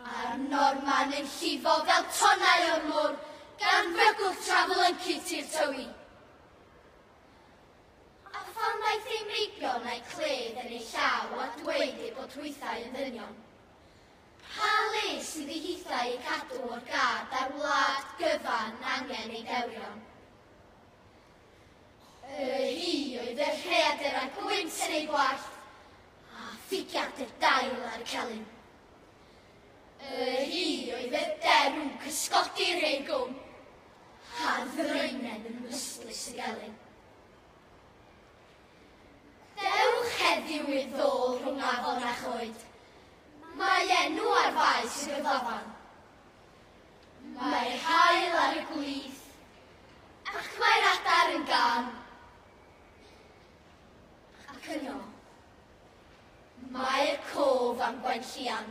A'r Norman yn llifo fel tonnau o'r môr, gan fygwth trafl yn cuti'r tywi. A phan ddaeth ei meibion a'i cledd yn ei llaw a dweud ei bod hwythau yn ddynion, pa le sydd ei hithau ei cadw o'r gad a'r wlad gyfan angen ei dewrion? Yr hi oedd y rheadur a gwynt yn ei gwallt, a ffigiad y dail ar y celyn. Yr hi oedd y derw cysgodi rhei gwm, a ddrynen yn ystlys y gelyn. Dewch heddiw i'r ddôl rhwng afon a choed. Mae enw ar faes y gyflafan. Mae'r haul ar y gwlith, ac mae'r adar yn gan. Ac yno, mae'r cof am Gwenllian.